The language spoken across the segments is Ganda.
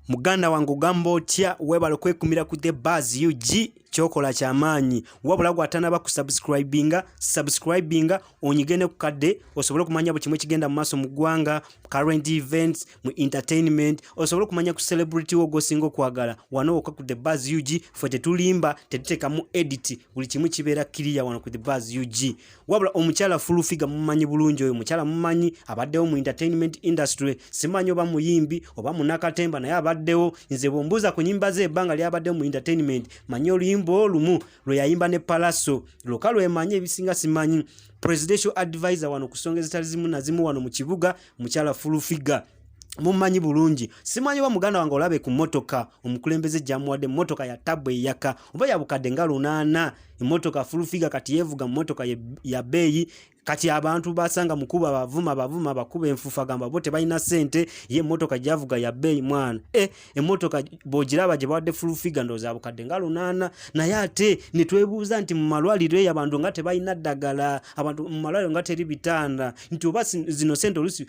muganda wange ogamba otya webale kwekumira ku the bas ug kyokola kyamaanyi wabula gwatanaba ku subscribinga subscribinga onyigene ku kadde osobole okumanya buli kimu ekigenda mu maaso mu ggwanga current events mu entertainment osobole okumanya ku celebrity wo gwosinga okwagala wano woka ku the bas ug fe tetulimba tetutekamu edit buli kimu kibeera kiriya wano ku the bas ug wabula omukyala full figure mumanyi bulungi oyo mukyala mumanyi abaddewo mu entertainment industry simanyi oba muyimbi oba munakatemba naye abaddewo nze bwombuuza ku nyimba ze ebbanga lyabaddewo mu entertainment manyi oluyimba olumu lwe yayimba ne palaso lwoka lwemanyi ebisinga simanyi presidential advisor wano kusonga ezitali zimu nazimu wano mu kibuga mukyala full figure mumanyi bulungi simanyi oba muganda wange olabe ku motoka omukulembeze jamuwadde motoka ya tabu eyaka oba yabukadde nga lunaana emotoka fulufiga kati yevuga mumotoka ya beeyi kati abantu basanga mukuba bavuma bavuma bakuba enfufa gamba bo tebalina sente ye motoka javuga ya beeyi mwana e eh, emmotoka bwogiraba gye bawadde fulufiga ndowooza bukadde nga lunaana naye ate ne twebuuza nti mu malwaliro eyo abantu nga tebalina ddagala abantu mu malwaliro nga teri bitanda nti oba zino sente olusi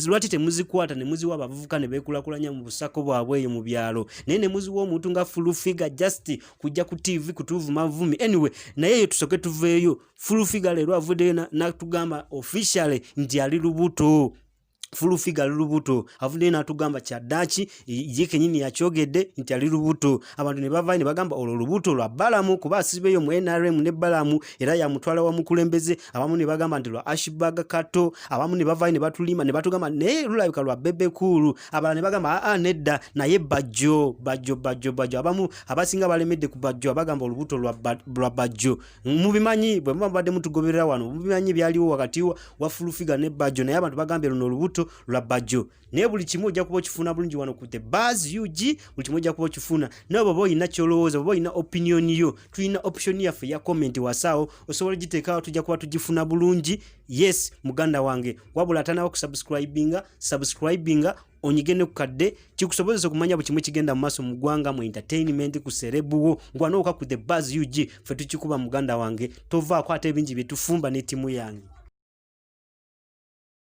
lwaki temuzikwata ne muziwa abavubuka ne beekulakulanya mu busako bwabwe eyo mu byalo naye ne muziwa omuntu nga fulufiga just kujja ku tv kutuvuma vumi anyway naye eyo tusoke tuveeyo fulufiga leero avuddeyo natugamba officially nti ali lubuto full figure ali lubuto avuddeyo n'atugamba kyaddaaki ye kenyini yakyogedde nti ali lubuto abantu ne bavaayo ne bagamba olwo lubuto lwa balamu kuba asibeeyo mu nrm ne balamu era yamutwala wa mukulembeze abamu ne bagamba nti lwa ashbag kato abamu ne bavaayo ne batulima ne batugamba naye lulabika lwa bebe kuulu abalala ne bagamba aa nedda naye bajjo bajjo bajjo bajjo abamu abasinga balemedde ku bajjo abagamba olubuto lwa bajjo mubimanyi bwe muba mubadde mutugoberera wano mubimanyi byaliwo wakati wa fulufiga ne bajjo naye abantu bagambye luno olubuto lwa bajjo naye buli kimu ojja kuba okifuna bulungi wano ku the bas ug buli kimu ojja kuba okifuna naye baba olina kyolowooza baba olina opinion yo tulina option yaffe ya comment wasaawo osobola ogiteekaawo tujja kuba tugifuna bulungi yes muganda wange wabula atanawo kusubscribinga subscribinga onyige ne ku kadde kikusobozesa okumanya buli kimu kigenda mu maaso mu ggwanga mu entertainment ku serebu wo ngwanooka ku the bas ug ffe tukikuba muganda wange tovaako ate ebingi bye tufumba n'ettimu yange